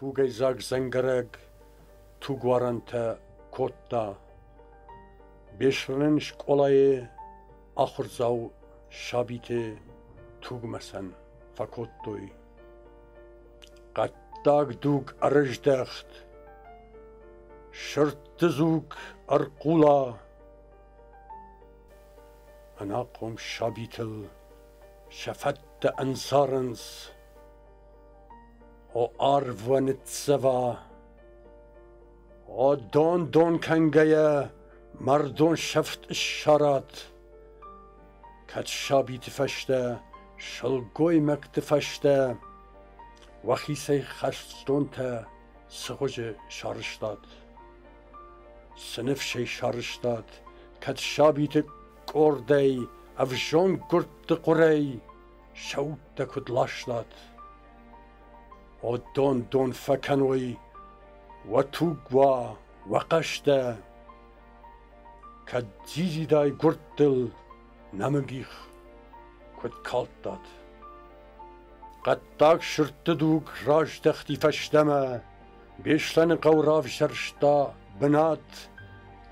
Тугӕйдзаг дзӕнгӕрӕг тугуарӕнтӕ кодта. Бесрынӕн скъолайы ахуырдзау сабиты тугмӕсӕн фӕкодтой. Хъӕддаг дуг ӕрыздӕхт. Сырдты дзуг ӕрхъула. Ӕнахъом сабитыл сӕ фӕдтӕ ӕнцарынц. О арвы ныццӕва, О дон-дон кӕнгӕйӕ Мӕрдон сӕфт ссарат. Кӕд сабиты фӕстӕ, Сылгоймӕгты фӕстӕ Уӕхицӕй хӕстонтӕ Цыгъуызы сарызтат. Цы ныфсӕй сарызтат, Кӕд сабиты къордӕй Ӕвзонг гуырдты хъуырӕй сӕуттӕ куд ластат, уӕд дон-дон фӕккӕнуй, уӕ тугуа, уӕ хъӕстӕ, кӕд дзидзидай гурдтыл нӕмыгих куд калдтат. Хъӕддаг сырдты дуг раздӕхти фӕстӕмӕ, Беслӕны хъӕу равзӕрста бынат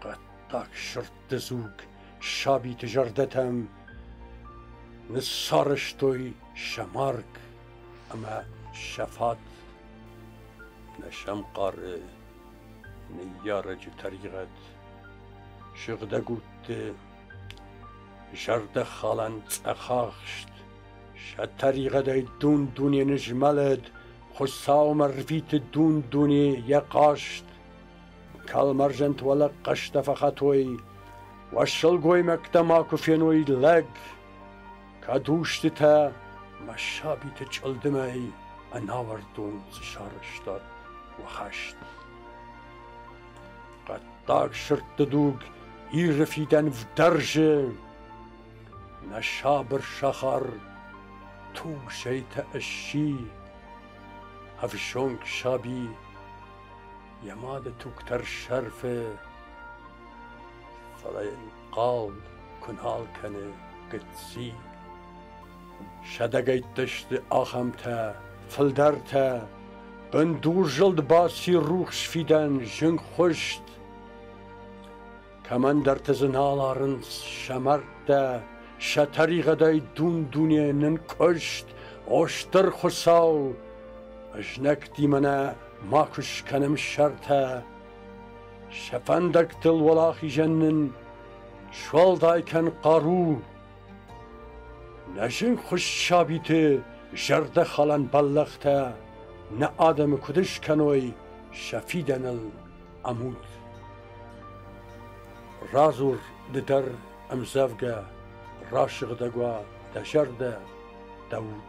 хъӕддаг сырд Дызуг сабиты зӕрдӕтӕм Ныссарӕзтой сӕ марг ӕмӕ сӕ фӕд. Нӕ сӕм хъары ныййарӕджы тӕригъӕд, Сыгъдӕг удты зӕрдӕхалӕн цъӕхахст. Сӕ тӕригъӕдӕй дун-дуне нызмӕлӕд, Хуыцаумӕ рвиты дун-дуне йӕ хъаст. Кӕлмӕрзӕнт уӕлӕ хъӕстӕ фӕхатой, уӕ сылгоймӕгтӕ ма куы феной лӕг, кӕд устытӕ мӕ сабиты чъылдымӕй ӕнауӕрдон цы сарӕзтат уӕ хӕст. Хъӕддаг сырдты дуг Иры фидӕн вдӕрзы, нӕ сабыр сахар Тугсӕйтӕ ысси, ӕвзонг саби йӕ мады туг тӕрсӕрфы, фӕлӕ йын хъал куы нал кӕны гыцци. Сӕдӕгӕйттӕ сты ахӕмтӕ, фылдӕртӕ, бындурзылд баци рухс фидӕн зынгхуыст. Кӕмӕндӕрты дзы нал арынц сӕ мӕрдтӕ, Сӕ тӕригъӕдӕй дун-дуне нынкъуыст, О стыр Хуыцау, ызнӕгтимӕ нӕ ма куы скӕнӕм сӕртӕ. Сӕ фӕндӕгтыл уӕлахизӕн нын суӕлдай кӕн хъару. Нӕ зынгхуыст сабиты зӕрдӕхалӕн бӕллӕхтӕ Нӕ адӕмы куыд скӕной сӕ фидӕныл. ӕмуд. Радзур ды дӕр ӕмдзӕвгӕ, рассыгъдӕг уа дӕ зӕрдӕ, дӕ уд.